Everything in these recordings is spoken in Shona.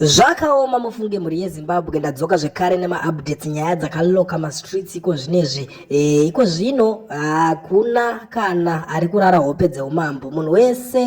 Zvakaoma mufunge mhuri yeZimbabwe ndadzoka zvekare nemaupdates nyaya dzakaloka mastreets iko zvinezvi e, iko zvino hakuna kana ari kurara hope dzeumambo munhu wese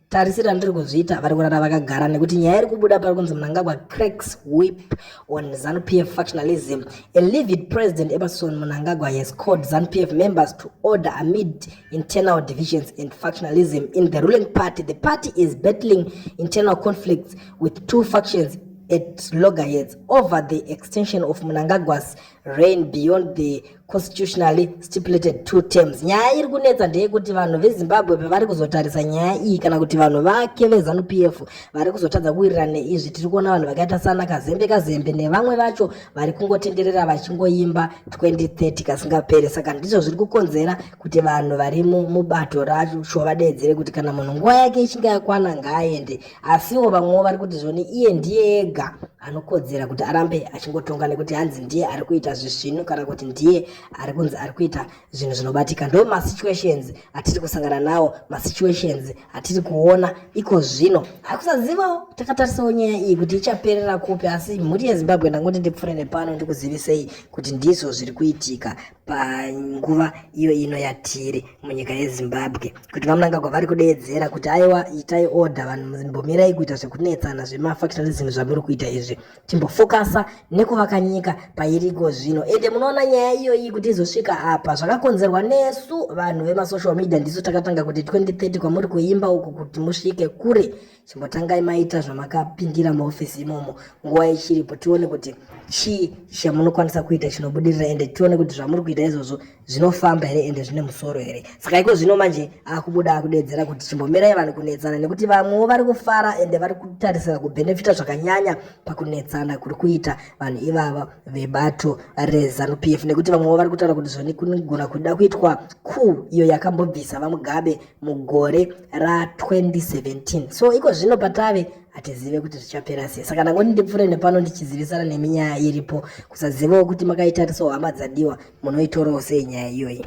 tarisira ndiri kuzviita vari kurara vakagara nekuti nyaya iri kubuda pari kunzi munangagwa cracks whip on zanu p f factionalism a livid president emerson munangagwa has called zanu p f members to order amid internal divisions and factionalism in the ruling party. The party is battling internal conflicts with two factions at loggerheads over the extension of Mnangagwa's reign beyond the constitutionally stipulated two terms. Nyaya iri kunetsa ndeyekuti vanhu veZimbabwe pavari kuzotarisa nyaya iyi kana kuti vanhu vake veZanu PF vari kuzotadza kuwirirana neizvi. Tiri kuona vanhu vakaita sana Kazembe Kazembe nevamwe vacho vari kungotenderera vachingoimba 2030 kasingapere saka ndizvo zviri kukonzera kuti vanhu vari mubato racho vadeedzere kuti kana munhu nguva yake ichinge yakwana ngaaende asiwo vamwewo vari kuti zvoni iye ndiye ega anokodzera kuti arambe achingotonga nekuti hanzi ndiye ari kuita zvisvinu kana kuti ndiye ari kunzi ari kuita zvinhu zvinobatika ndo masituations atiri kusangana nawo masituations atiri kuona iko zvino hakusazivawo takatarisawo nyaya iyi kuti ichaperera kupi asi mhuri yezimbabwe ndangoti ndipfure nepano ndikuzivisei kuti ndizvo zviri kuitika panguva iyo ino yatiri munyika yezimbabwe kuti vamunangagwa vari kudeedzera kuti aiwa itai order vanhu mbomirai kuita zvekunetsana zvemafactorism zvamuri kuita izvi chimbofokasa nekuvaka nyika pairiko zvino ende munoona nyaya iyoyi kuti izosvika apa zvakakonzerwa nesu vanhu vemasocial media ndisu takatanga kuti 2030 kwamuri kuimba uku kuti musvike kure chimbotangai maita zvamakapindira muofisi imomo nguva ichiripo tione kuti chii chamunokwanisa kuita chinobudirira ende tione kuti zvamuri kuita izvozvo zvinofamba here ende zvine musoro here saka iko zvino manje akubuda akudedzera kuti chimbomirai vanhu kunetsana nekuti vamwewo vari kufara ende vari kutarisira kubhenefita zvakanyanya pakunetsana kuri kuita vanhu ivava vebato rezanup f nekuti vamwewo vari kutaura kuti zvanikugona kuda kuitwa ku iyo yakambobvisa vamugabe mugore ra 2017 so iko zvino patave hatizive kuti zvichapera sei saka ndangoti ndipfuure nepano ndichizivisana nemi nyaya iripo kusazivawo kuti makaitarisa hama dzadiwa munoitorawo sei nyaya iyoyi